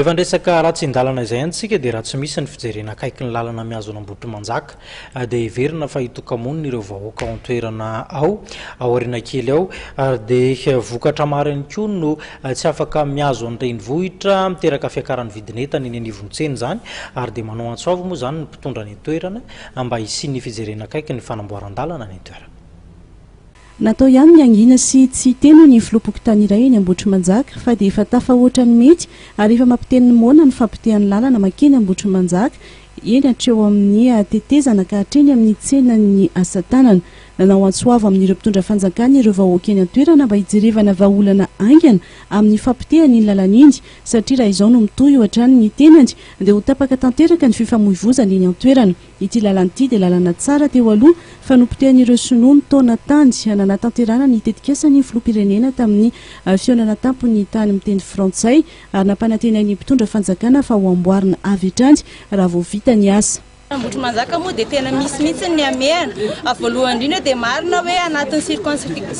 Efa andresaka ratsindalana izay antsika dia raha tsy misy ny fijerena akaiky ny lalana mihazo an'Ambohitrimanjaka dia heverina fa hitoka-monina ireo vahoaka ao an-toerana ao aoriana kely ao ary dia vokatra maro ihany koa no tsy afaka mihazo any renivohitra miteraka fiakaran'ny vidin'entana eny anivon'ny tsena izany ary dia manao antso avo moa izany ny mpitondra any an-toerana mba hisian'ny fijerena akaiky ny fanamboaran-dalana any an-toerana. Natao ihany ny hangina sy tsy hiteny ny filoham-pokontany iray eny Ambohitrimanjaka fa dia efa tafahoatra ny mety ary efa mampiteny ny moana ny fampotehany lalana mankeny Ambohitrimanjaka eny hatreo amin'ny tetezana ka hatreny amin'ny tsenan'ny asatanana. Nanao antso avo amin'ireo mpitondra fanjakana ireo vahoaka eny an-toerana mba hijerevana vahaolana haingana amin'ny fampotehany iny lalana iny satria raha izao no mitohy hohatrany ny tenany dia ho tapaka tanteraka ny fifamoivozana eny an-toerana. Ity lalana ity dia lalana tsara teo aloha fa nopotehan'ireo Sinoa mitaona tany. Nanatanterahana ny tetikasan'ny Filoham-pirenena tamin'ny fihaonana an-tampon'ny tany miteny frantsay ary nampanantenainy ny mpitondra fanjakana fa ho amboarina avy hatrany raha vao vita ny asa. Ambohitrimanjaka moa dia tena misy mihitsy ny hamehana. Voalohany indrindra dia marina hoe anatin'ny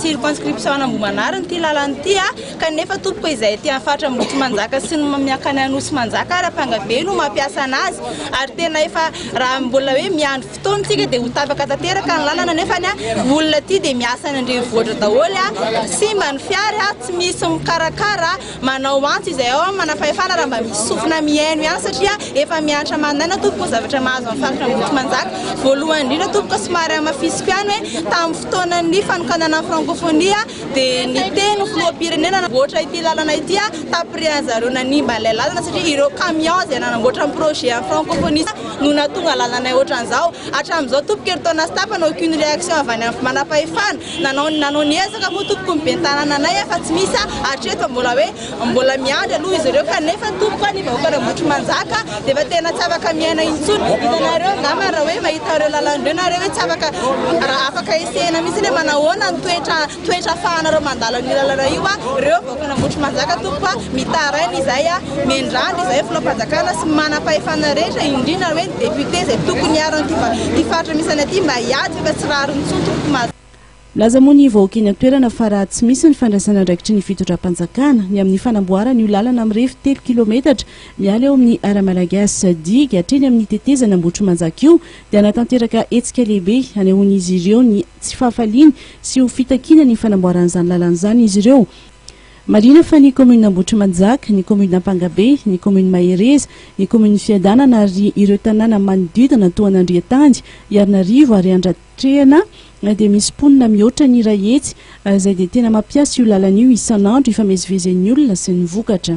circonscription an'Ambohimanarina ity lalana ity. Kanefa tompoko izay aty amin'ny faritra Ambohitrimanjaka sy ny miankany Anosimanjaka ary ampanga be no mampiasa anazy ary tena efa raha mbola hoe miandry fotoana isika dia ho tapaka tanteraka ny lalana nefa ny olona aty dia miasa any an-drenivohitra daholo simba ny fiara tsy misy mikarakara manao antso izay ao amin'ny manam-pahefana raha mba misy sofina mihaino ihany satria efa miantra mandaina tompoko zavatra mahazo amin'ny faritra Ambohitrimanjaka voalohany indrindra tompoko somary hamafisiko ihany hoe tamin'ny fotoanan'ny fanokanana ny frankofonia dia niteny ny filoham-pirenena nanamboatra ity lalana ity tapirin'ny zareo nanimba ilay lalana satria ireo camion izay nanamboatra ny projet an'ny francophonie no nahatonga lalanay ohatran'izao hatramin'izao tompoko herintaona sy tapany aucune réaction avy any amin'ny manam-pahefana nanao nanao ny ezaka moa tompoko ny ben'ny tanànanay fa tsy misy hatreto mbola hoe Mbola miandry aloha izy ireo kanefa tompoko a ny vahoakan'Ambohitrimanjaka dia efa tena tsy afaka miaina intsony. Hitanareo angamba raha hoe mahita an'ireo lalana ireo nareo hoe tsy afaka raha afaka esehina mihitsy ny hoe manahoana ny toetra toetra afahanareo mandalo an'io lalana io a reo vahoakan'Ambohitrimanjaka tompoko a mitaraina izahay a miandrandra izahay filohampanjakana sy ny manam-pahefana rehetra indrindra hoe ny député izay tokony hiaro an'ity faritra misy anay ity mba hiady fa efa tsy rariny intsony tompoko. Nilaza moa ny vahoaka eny an-toerana fa raha tsy misy ny fandraisana andraikitry ny fitondram-panjakana ny amin'ny fanamboarana io lalana mirefy telo kilometatra miala eo amin'ny Ara-Malagasy digue hatreny amin'ny tetezana Ambohitrimanjaka io dia hanatanteraka hetsika lehibe hanehoan'izy ireo ny tsy fahafaliany sy ho fitakiana ny fanamboaran'izany lalana izany izy ireo. Marihina fa ny kaominina Ambohitrimanjaka, ny kaominina Ampangabe, ny kaominina Mahereza, ny kaominina Fiadanana ary ireo tanàna manodidina toa an'Andriantany, Iharinarivo ary Andra. Trehana dia misy mponina mihoatra ny iray hetsy izay dia tena mampiasa io lalana io isan'andro hifamezivezen'ny olona sy ny vokatra.